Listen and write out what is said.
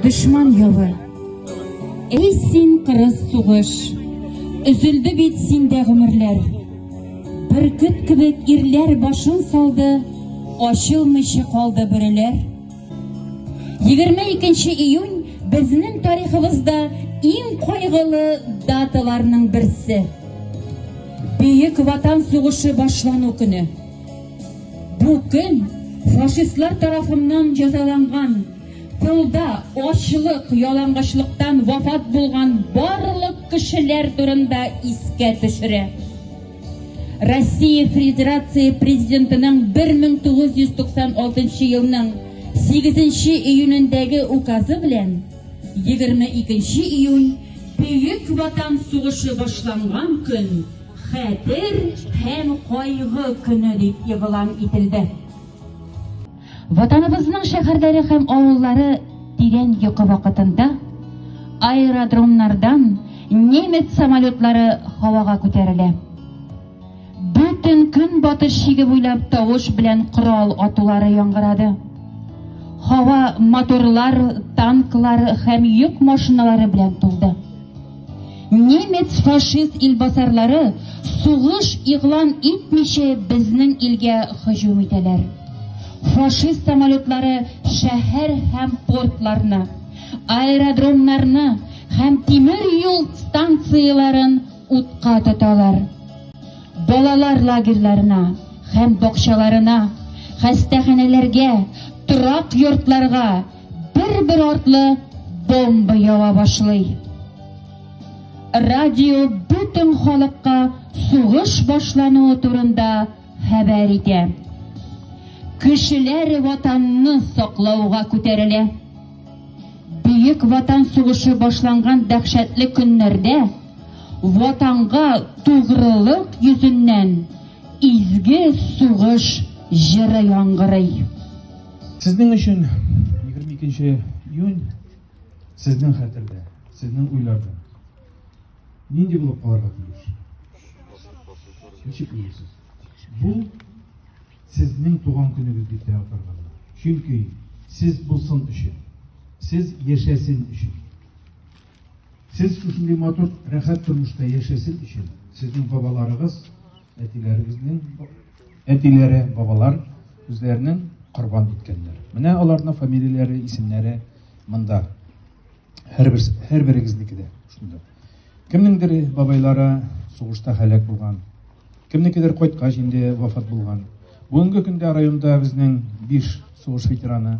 Дошман явы. Эй син кырыс сугыш. Үзелде бит синдә гомерләр. Бөркет кебек ирләр башын салды, ачылмыйча калды бүреләр. 22 июнь безнең тарихыбызда иң кайгылы даталарның берсе. Бөек Ватан сугышы башлану көне. Бу көн фашистлар тарафыннан җәзаланган, тылда ачлык, ялангачлыктан вафат булган барлык кешеләр турында искә төшерә. Россия Федерация президентының 1996 елның 8 июнендәге указы белән 22 июнь Бөек Ватан сугышы башланган көн Хәтер һәм кайгы көне дип игълан ителде. Ватаныбызның шәһәрләре һәм авыллары тирән йокы вакытында аэродромнардан немец самолетлары һавага күтәрелә. Бөтен көнбатыш шиге буйлап тавыш белән корал атулары яңгырады. Һава моторлар, танклар һәм йөк машиналары белән тулды. Немец фашист илбасарлары сугыш игълан итмиче безнең илгә һөҗүм итәләр. Фашист самолетлары шәһәр һәм портларны, аэродромнарны һәм тимер юл станцияләрен утка тоталар. Балалар лагерьларына һәм бакчаларына, хастаханәләргә, торак йортларга, Бер-бер артлы бомба ява башлый. Радио бөтен халыкка сугыш башлануы турында хәбәр итә. Кешеләр ватанны саклауга күтәрелә. Бөек Ватан сугышы башланган дәһшәтле көннәрдә ватанга тугрылык йөзеннән изге сугыш җыры яңгырый. Сезнең өчен 22 июнь сезнең хәтердә, сезнең уйларда. Нинди булып калырга тиеш? Ничек уйлыйсыз? Бу сезнең туган көнегез дип тә атарга була. Чөнки сез булсын өчен, сез яшәсен өчен. Сез шушындый матур, рәхәт тормышта яшәсен өчен, сезнең бабаларыгыз, әтиләрегезнең Әтиләре, бабалар үзләренең корбан иткәннәр. Менә аларның фамилияләре, исемнәре монда. Һәрбер һәрберегезнеке дә шунда. Кемнеңдер бабайлары сугышта һәлак булган. Кемнекедер кайткач инде вафат булган. Бүгенге көндә районда безнең 5 сугыш ветераны